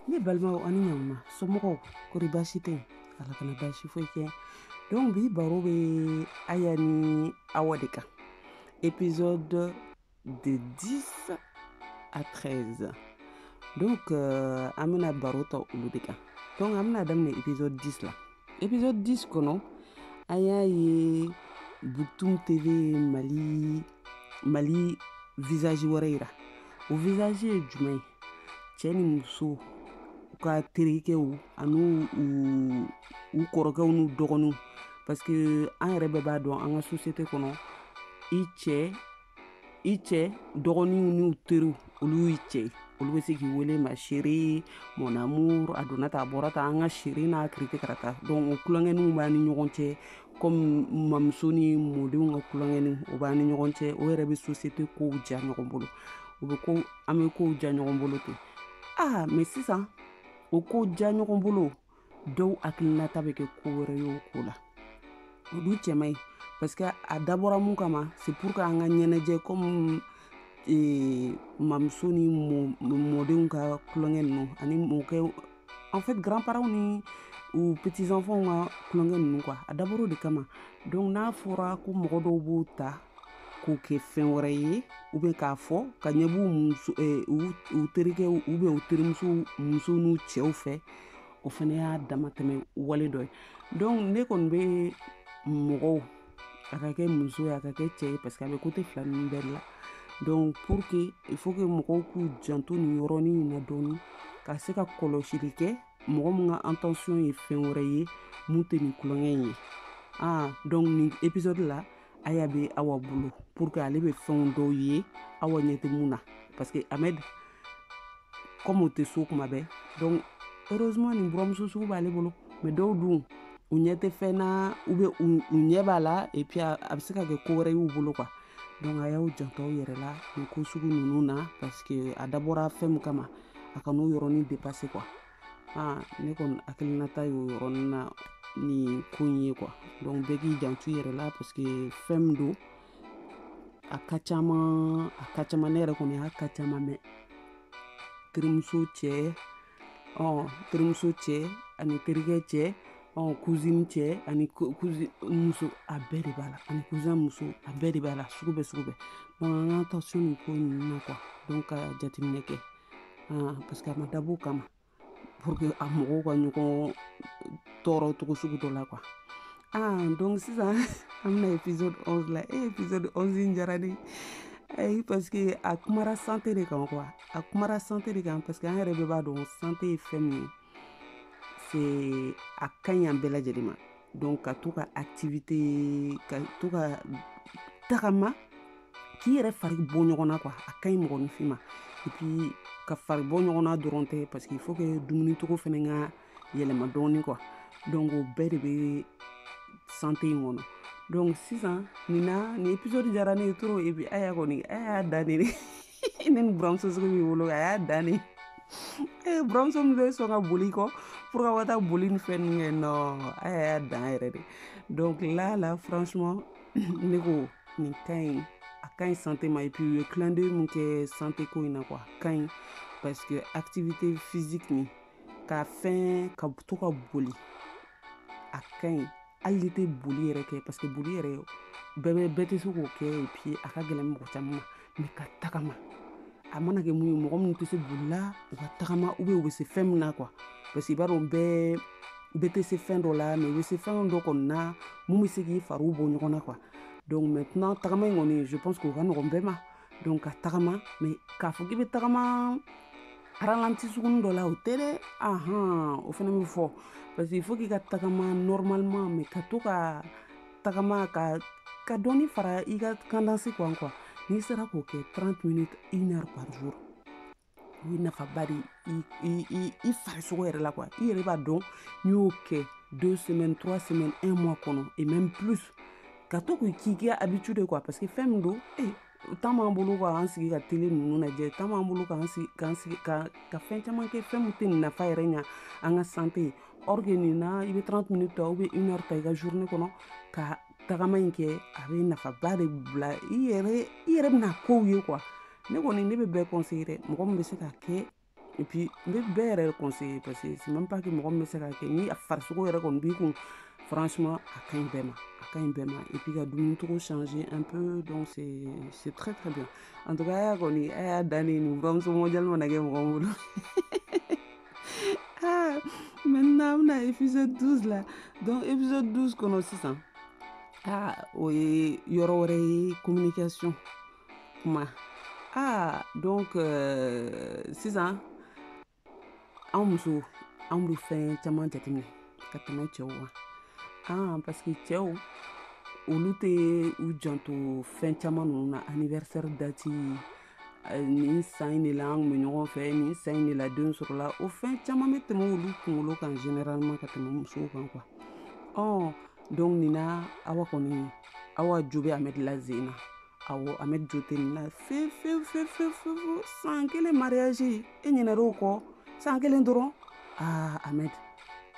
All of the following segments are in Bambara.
ne balimaw ani ɲamuma somɔgɔw kori baasi tɛ yen ala kana baasi foyi kɛ donc bi baro bɛ aya ni awa de kan épisode de 10 à 13 donc euh, an bɛna baro ta olu de kan donc an bɛna daminɛ épisode 10 la épisode 10 kɔnɔ an y'a ye buktum tv mali mali visage wɛrɛ yira o visage ye jumɛn ye cɛ ni muso u ka terikɛw ani u kɔrɔkɛw n'u dɔgɔninw parce que an yɛrɛ bɛɛ b'a dɔn an ka société kɔnɔ i cɛ i cɛ dɔgɔninw n'u teriw olu y'i cɛ ye olu bɛ se k'i wele ma chérie mon amour a donna ta a bɔra ta an ka chérie n'a kirite ka taa donc o tulonkɛninw b'an ni ɲɔgɔn cɛ comme mamuso ni mɔdenw ka tulonkɛnin o b'an ni ɲɔgɔn cɛ o yɛrɛ bɛ société kow diya ɲɔgɔn bolo u bɛ ko an bɛ kow diya ɲɔgɔn bolo ten aa mais sisan o ko diya ɲɔgɔn bolo dɔw hakilinata bɛ kɛ ko wɛrɛ ye o ko la o dun cɛ man ɲi parce que a dabɔra mun kama c'est pour que an ka ɲɛnajɛ comme eh, mamuso ni mɔdenw ka tulonkɛ ninnu ani mɔkɛ en fait grand parents ni u petits enfants ka tulonkɛ ninnu quoi a dabɔra o de kama donc n'a fɔra ko mɔgɔ dɔw b'o ta k'o kɛ fɛn wɛrɛ ye ou bien k'a fɔ k'a ɲɛ b'u eh, u terikɛ ou bien u terimuso muso n'u cɛw fɛ o fana y'a damatɛmɛ wale dɔ ye donc ne kɔni bɛ mɔgɔw a ka kɛ muso ye a ka kɛ cɛ ye parce que a bɛ côté fila ninnu bɛɛ la donc pour que il faut que mɔgɔw k'u janto nin yɔrɔnin in na dɔɔni ka se ka kɔlɔsili kɛ mɔgɔ min ka intention ye fɛn wɛrɛ ye min tɛ nin tulonkɛ in ye ah donc nin épisode la aya bɛ awa bolo pour que ale bɛ fɛnw dɔw ye awa ɲɛ tɛ min na parce que ahmed comme o tɛ so tuma bɛɛ donc heureusement nin buramuso sugu b'ale bolo mais dɔw dun u ɲɛ tɛ fɛn na ou bien u ɲɛ b'a la et puis a bɛ se ka kɛ ko wɛrɛ y'u bolo quoi donc a y'aw janto aw yɛrɛ la nin ko sugu ninnu na parce que a dabɔra fɛn min kama a kan'o yɔrɔnin dépasser quoi aa ne kɔni hakilinata y'o yɔrɔnin na nin ko in ye quoi donc bɛɛ k'i janto i yɛrɛ la parce que fɛn min don a ka caman a ka caman ne yɛrɛ kɔni y'a ka caman mɛn terimuso cɛ ɔ terimuso cɛ ani terikɛ cɛ ɔ cousine cɛ ani cousine muso a bɛɛ de b'a la ani cousin muso a bɛɛ de b'a la sugu bɛɛ sugu bɛɛ donc an ka attention nin ko ninnu na quoi donc ka jateminɛ kɛ ah, parce que a ma dab'o kama pour que a mɔgɔw ka ɲɔgɔn tɔɔrɔ cogo sugu dɔ la quoi ah donc sisan an bɛna épisode 11 la e épisode 11 in diyara ne ye eh, parce que a kumara santé de kan quoi a kumara santé de kan parce que an yɛrɛ bɛɛ b'a dɔn santé ye fɛn min ye c'est a ka ɲi an bɛɛ lajɛlen ma donc ka to ka activité ka to ka tagama k'i yɛrɛ fari bɔ ɲɔgɔn na quoi a ka ɲi mɔgɔninfin ma et puis ka fari bɔ ɲɔgɔn na dɔrɔn tɛ parce que il faut que dumuni cogo fɛnɛ ka yɛlɛma dɔɔni quoi donc o bɛɛ de bɛ santé in kɔnɔ donc sisan nin na nin épisode diyara ne ye trop et puis Aya kɔni a y'a dan ne de ne ni buramuso sugu b'i bolo a y'a dan ne eh, buramuso min bɛ sɔn ka boli kɔ pour k'aw ka taa boli ni fɛn ninnu kɛ non a y'a dan yɛrɛ de donc là là franchement ne ko nin ka ɲi a ka ɲi santé ma et puis u ye clin d'œil min kɛ santé ko in na quoi a ka ɲi parce que activité physique nin ka fɛn ka to ka boli a ka ɲi hali n'i tɛ boli yɛrɛ kɛ parce que boli yɛrɛ bɛɛ bɛ bɛɛ tɛ se k'o kɛ et puis a ka gɛlɛn mɔgɔ caman ma mais ka tagama a mana kɛ mun ye mɔgɔ minnu tɛ se boli la u ka tagama ou bien u bɛ se fɛn min na quoi parce que i b'a dɔn bɛɛ bɛɛ tɛ se fɛn dɔ la mais u bɛ se fɛn dɔ kɔni na mun bɛ se k'i fariw bɔ ɲɔgɔn na quoi donc maintenant tagama in kɔni je pense que o ka nɔgɔn bɛɛ ma donc ka tagama mais k'a fɔ k'i bɛ tagama ralenti sugunin dɔ la o tɛ dɛ ahan o fana bɛ fɔ parce que il faut k'i ka tagama normalement mais ka to ka tagama ka ka dɔɔni fara i ka cadence kan quoi n'i sera k'o kɛ 30 minutes une heure par jour o ye nafaba de i farisogo yɛrɛ la quoi i yɛrɛ b'a dɔn n'i y'o kɛ deux semaines trois semaines un mois kɔnɔ et même plus ka to k'i k'i kɛ habitude quoi parce que fɛn min don e eh, temps b'an bolo k'an sigi ka télé ninnu lajɛ temps b'an bolo k'an sigi k'an sigi ka ka fɛn caman kɛ fɛn min tɛ nin nafa yɛrɛ ɲa an ka santé ye or que nin na i bɛ 30 minutes ta ou bien une heure ta i ka journée kɔnɔ ka tagama in kɛ a bɛ nafaba de bila i yɛrɛ i yɛrɛ bɛna kow ye quoi ne kɔni ne bɛ bɛɛ conseiller dɛ mɔgɔ min bɛ se k'a kɛ et puis n bɛ bɛɛ yɛrɛ conseiller parce que c'est même pas que mɔgɔ min bɛ se k'a kɛ ni a farisogo yɛrɛ kɔni b'i kun franchement a ka ɲi bɛɛ ma a ka ɲi bɛɛ ma et puis ka dumuni cogo changer un peu donc c'est c'est très très bien en tout cas Aya kɔni a y'a dan ne nin buramuso mondial mana kɛ mɔgɔ min bolo ah maintenant an bɛna épisode 12 la donc épisode 12 kɔnɔ sisan ah o ye yɔrɔ wɛrɛ ye communication kuma ah donc euh, sisan anw musow anw bɛ fɛn caman jateminɛ ka tɛmɛ cɛw kan ah parce que cɛw olu tɛ u janto fɛn caman ninnu na anniversaire dati nin san in de la an bɛ ɲɔgɔn fɛ nin san in de la den sɔrɔla o fɛn caman bɛ tɛmɛ olu kunkolo kan généralement ka tɛmɛ musow kan quoi ɔ donc nin na awa kɔni awa jo bɛ amɛdi la zen na awɔ amɛdi jo tɛ nin na fewu fewu fewu fewu fewu san kelen mariage e ɲinɛra o kɔ san kelen dɔrɔn aa amɛdi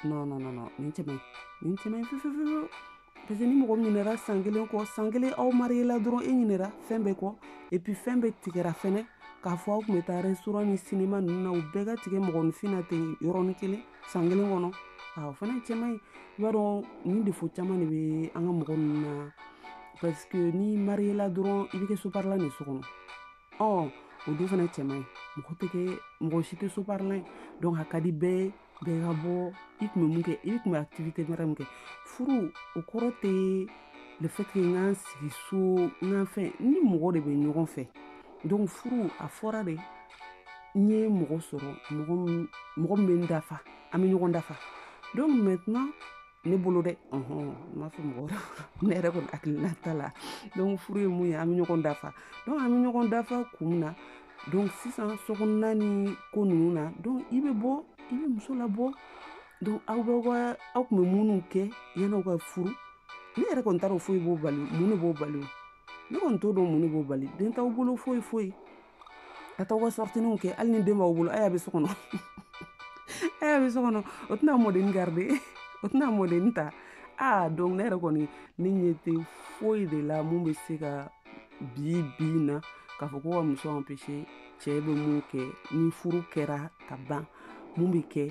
non non non non nin cɛ man ɲi nin cɛ man ɲi fewu fewu fewu parce que ni mɔgɔ ɲinɛra san kelen kɔ san kelen aw marié la dɔrɔn e ɲinɛra fɛn bɛɛ kɔ et puis fɛn bɛɛ tigɛra fɛnɛ k'a fɔ aw kun bɛ taa restaurant ni cinéma ninnu na u bɛɛ ka tigɛ mɔgɔninfin na ten yɔrɔnin kelen san kelen kɔnɔ o fana cɛ man ɲi i b'a dɔn nin défaut caman de bɛ an ka mɔgɔ ninnu na parce que n'i marié la dɔrɔn i bɛ kɛ soparilan ye so kɔnɔ ɔ o dun fana cɛ man ɲi mɔgɔ tɛ kɛ mɔgɔ si tɛ soparilan ye donc a ka di bɛɛ ye bɛɛ ka bɔ i kun bɛ mun kɛ i kun bɛ activité wɛrɛ min kɛ furu o kɔrɔ tɛ le fait que n k'an sigi so n k'an fɛn ni mɔgɔ de bɛ ɲɔgɔn fɛ donc furu a fɔra de n ye mɔgɔ sɔrɔ mɔgɔ min bɛ n dafa an bɛ ɲɔgɔn dafa donc maintenant ne bolo dɛ n m'a fɔ mɔgɔ ne yɛrɛ kɔni hakilinata la donc furu ye mun ye an bɛ ɲɔgɔn dafa donc an bɛ ɲɔgɔn dafa kun min na donc sisan sokɔnɔna ni ko ninnu na donc i bɛ bɔ i bɛ muso labɔ donc aw bɛ wa aw kun bɛ minnu kɛ yan'aw ka furu ne yɛrɛ kɔni t'a dɔn foyi b'o bali mun b'o bali ne kɔni t'o dɔn mun b'o bali den t'aw bolo foyi foyi a t'aw ka sortie ninnu kɛ hali ni den b'aw bolo aya bɛ so kɔnɔ aya bɛ so kɔnɔ o tɛna mɔdenni garder o tɛna mɔdenni ta aa donc ne yɛrɛ kɔni ne ɲɛ tɛ foyi de la mun bɛ se ka bi bi na k'a fɔ ko ka muso empêcher cɛ bɛ mun kɛ ni furu kɛra ka ban mun bɛ kɛ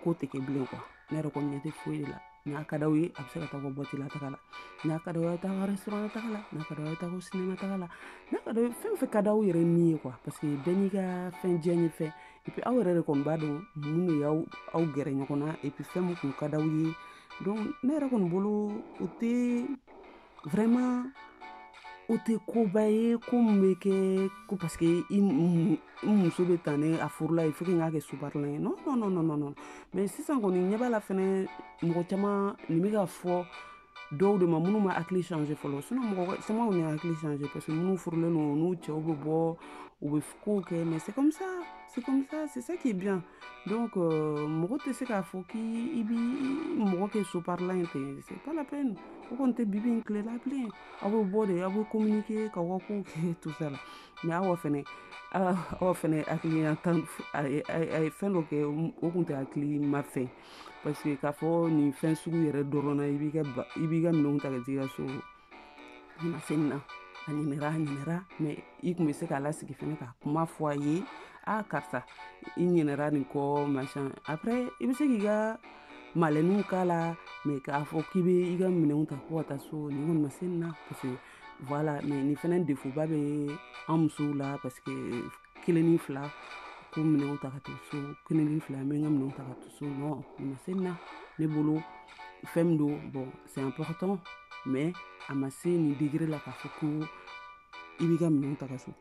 ko tɛ kɛ bilen quoi ne yɛrɛ kɔni ɲɛ tɛ foyi de la n'a ka d'aw ye a bɛ se ka taa ka boîte la taga la n'a ka d'aw ye taa ka restaurant taga la n'a ka d'aw ye taa ka cinéma taga la n'a ka d'aw ye fɛn fɛn ka d'aw yɛrɛ ni ye quoi parce que bɛɛ n'i ka fɛn diyanyefɛn et puis aw yɛrɛ de kɔni b'a dɔn mun de y'aw gɛrɛ ɲɔgɔn na et puis fɛn min kun ka d'aw ye donc ne yɛrɛ kɔni bolo o tɛ vraiment o tɛ koba ye ko min bɛ kɛ ko parce que i muso bɛ tan ne a furula il faut que n k'a kɛ soparilan ye non non non non non mais sisan kɔni ɲɛ b'a la fɛnɛ mɔgɔ caman nin bɛ ka fɔ dɔw de ma minnu ma hakili changer fɔlɔ sinon mɔgɔ caman kɔni y'a hakili changer parce que minnu furulen don n'u cɛw bɛ bɔ u bɛ kow kɛ mais c'est comme ça c'est comme ça c'est ça qui est bien donc euh, mɔgɔ tɛ se k'a fɔ k'i bi mɔgɔ kɛ soparilan ye ten c'est pas la peine o kɔni tɛ bibi in tile la bilen aw bɛ bɔ de aw bɛ communiquer k'aw ka kow kɛ tout ça la mais awa fɛnɛ awa fɛnɛ hakilina tan a ye fɛn dɔ kɛ o kun tɛ hakilima fɛn parce que k'a fɔ nin fɛn sugu yɛrɛ dɔrɔn na i b'i ka i b'i ka minɛnw ta ka t'i ka so Nin ma se nin na a ɲinɛra a ɲinɛra mais i tun bɛ se k'a lasigi fana ka kuma fɔ a ye aa karisa i ɲinɛra nin kɔ machin après i bɛ se k'i ka malɛnw k'a la mais k'a fɔ k'i bɛ i ka minɛnw ta ko ka taa so nin ma se nin na parce que voilà mais nin fana défaut ba bɛ an musow la parce que kelen ni fila ko minɛnw ta ka taa so kelen ni fila n bɛ n ka minɛnw ta ka taa so nin ma se nin na ne bolo fɛn min don bon c'est important mais a ma se nin degré la k'a fɔ ko i b'i ka minɛnw ta ka so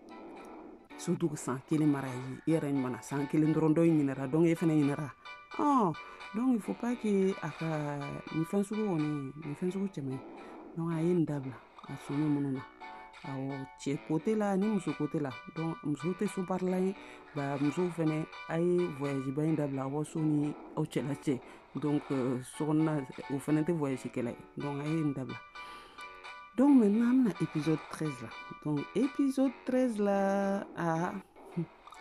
surtout que san kelen mariage i yɛrɛ ɲumanna san kelen dɔrɔn dɔ in ɲinɛra donc e fana ɲinɛra ɔn donc il faut pas que a ka nin fɛn sugu kɔni nin fɛn sugu cɛ man ɲi donc a ye nin dabila a sɔnni minnu na awɔ cɛ côté la ni muso côté la donc muso tɛ so baarala ye ba musow fɛnɛ a ye voyage ba in dabila aw ka so ni aw cɛla cɛ donc euh, sokɔnɔna o fana tɛ voyage kɛla ye donc a ye nin dabila donc maintenant an bɛna épisode 13 la donc épisode 13 la aa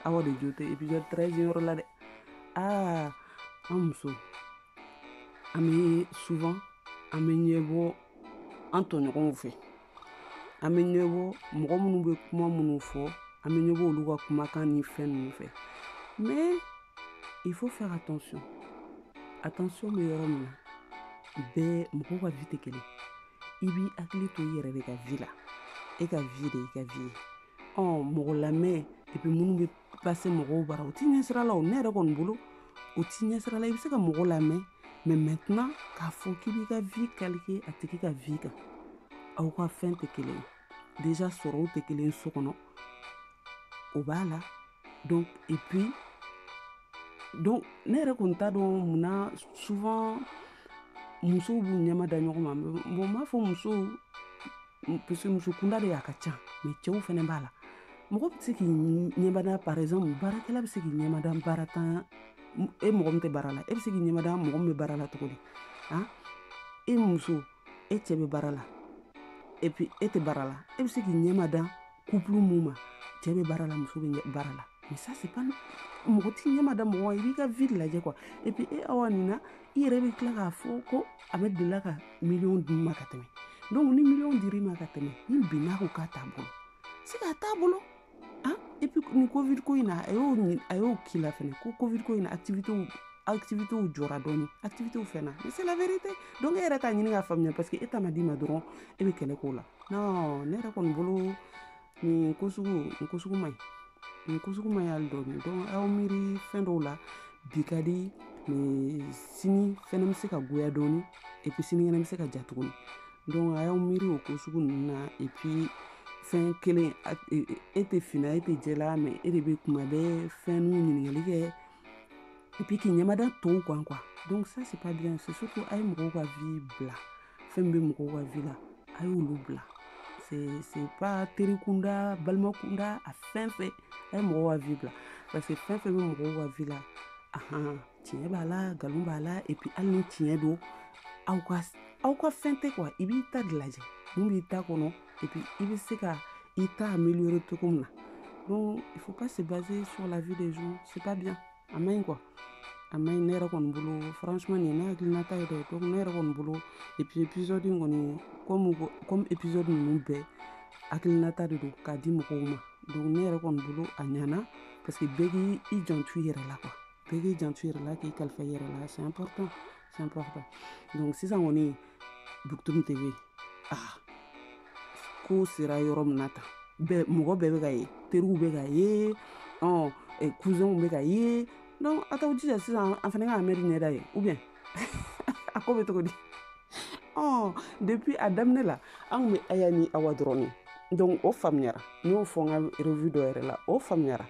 awa de jo tɛ épisode 13 yɔrɔ la dɛ aa an muso an bɛ souvent an bɛ ɲɛbɔ an tɔɲɔgɔnw fɛ an bɛ ɲɛbɔ mɔgɔ minnu bɛ kuma minnu fɔ an bɛ ɲɛbɔ olu ka kumakan ni fɛn ninnu fɛ mais il faut faire attention attention bɛ yɔrɔ min na bɛɛ mɔgɔw ka vie tɛ kelen i b'i hakili to i yɛrɛ de ka vie la e ka vie de i ka vie ye ɔ mɔgɔ lamɛn et puis minnu bɛ passer mɔgɔw bara o t'i ɲɛsira la o ne yɛrɛ kɔni bolo o t'i ɲɛsira la i bɛ se ka mɔgɔ lamɛn mais maintenant k'a fɔ k'i b'i ka vie calquer a tigi ka vie kan aw ka fɛn tɛ kelen déjà sɔrɔw tɛ kelen so kɔnɔ o b'a la donc et puis donc ne yɛrɛ kɔni t'a dɔn mun na souvent musow b'u ɲɛmada ɲɔgɔn ma bon n b'a fɔ musow puisque muso kunda de y'a ka ca mais cɛw fana b'a la mɔgɔ bɛ se k'i ɲɛmada par exemple baarakɛla bɛ se k'i ɲɛmada baaratan e mɔgɔ min tɛ baara la e bɛ se k'i ɲɛmada mɔgɔ min bɛ baara la cogo di han e muso e cɛ bɛ baara la et puis e tɛ baara la e bɛ se k'i ɲɛmada couple mun ma cɛ bɛ baara la muso bɛ baara la mais ça c'est pas mɔgɔ t'i ɲɛmada mɔgɔ i b'i ka vie lajɛ quoi et puis e awa nin na i yɛrɛ bɛ tila k'a fɔ ko a bɛ delila ka miliyɔn d'i ma ka tɛmɛ donc ni miliyɔn dir'i ma ka tɛmɛ ni bi n'a ko k'a t'a bolo c'est k'a t'a bolo ah et puis nin covid ko in na a y'o a y'o k'i la fɛnɛ ko covid ko in na activité activitéw jɔra dɔɔni activitéw fɛnna mais c'est la vérité donc e yɛrɛ t'a ɲini k'a faamuya parce que e ta ma d'i ma dɔrɔn e bɛ kɛlɛ k'o la non ne yɛrɛ kɔni bolo nin ko sugu nin ko sugu man ɲi nin ko sugu man ɲi hali dɔɔni donc aw miiri fɛn dɔw la bi ka di mais sini fɛnɛ bɛ se ka goya dɔɔni et puis sinikɛnɛ bɛ se ka diya tuguni donc a y'aw miiri o ko sugu ninnu na et puis fɛn kelen e tɛ fin na e tɛ jɛ la mais e de bɛ kuma bɛɛ fɛn n'u ɲininkali kɛ et puis k'i ɲɛmada tɔw kan quoi donc ça c'est pas bien c'est surtout a ye mɔgɔw ka vie bila fɛn min bɛ mɔgɔw ka vie la a y'olu bila c'est pas teri kunda balima kunda a fɛn fɛn a ye mɔgɔw ka vie bila parce que fɛn fɛn bɛ mɔgɔw ka vie la ahan tiɲɛ b'a la nkalon b'a la et puis hali ni tiɲɛ don aw ka aw ka fɛn tɛ quoi i b'i ta de lajɛ mun b'i ta kɔnɔ et puis i bɛ se ka i ta améliorer cogo min na donc il faut pas se baser sur la vie des gens c'est pas bien a man ɲi quoi a man ɲi ne yɛrɛ kɔni bolo franchement nin ye ne hakilinata ye dɛ donc ne yɛrɛ kɔni bolo et puis épisode in kɔni comme comme épisode ninnu bɛɛ hakilinata de don k'a di mɔgɔw ma donc ne yɛrɛ kɔni bolo a ɲana parce que bɛɛ k'i janto i yɛrɛ la quoi bɛɛ k'i janto i yɛrɛ la k'i kalifa i yɛrɛ la c'est important c'est important donc sisan kɔni bukutuni TV ah ko sera yɔrɔ min na tan bɛɛ mɔgɔ bɛɛ bɛ ka ye teriw bɛ ka ye ɔ cousinw bɛ ka ye donc a t'aw jija sisan an fana ka amɛdi ɲɛda ye ou bien a ko bɛ cogo di ɔ depuis a daminɛ la an kun bɛ aya ni awa dɔrɔn de donc o faamuyara n y'o fɔ n ka revue dɔ yɛrɛ la o faamuyara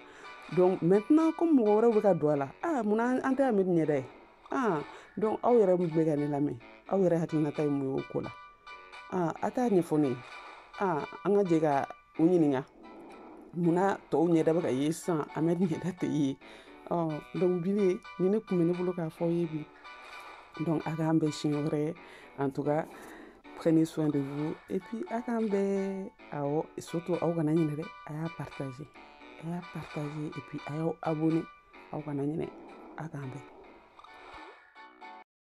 donc maintenant comme mɔgɔ wɛrɛw bɛ ka don a la ah mun na an tɛ amɛdi ɲɛda ye aa donc aw yɛrɛ min bɛ ka ne lamɛn aw yɛrɛ hakilinata ye mun ye o ko la aa a t'a ɲɛfɔ ne ye aa an ka jɛ ka u ɲininka munna tɔw ɲɛda bɛ ka ye sisan amɛdi ɲɛda tɛ ye ɔ donc bile nin de kun bɛ ne bolo k'a fɔ aw ye bi donc a k'an bɛn siɲɛ wɛrɛ en tout cas prenez soin de vous et puis a k'an bɛn awɔ surtout aw kana ɲinɛ dɛ a y'a partager a y'a partager et puis a y'aw abonner aw kana ɲinɛ a k'an bɛn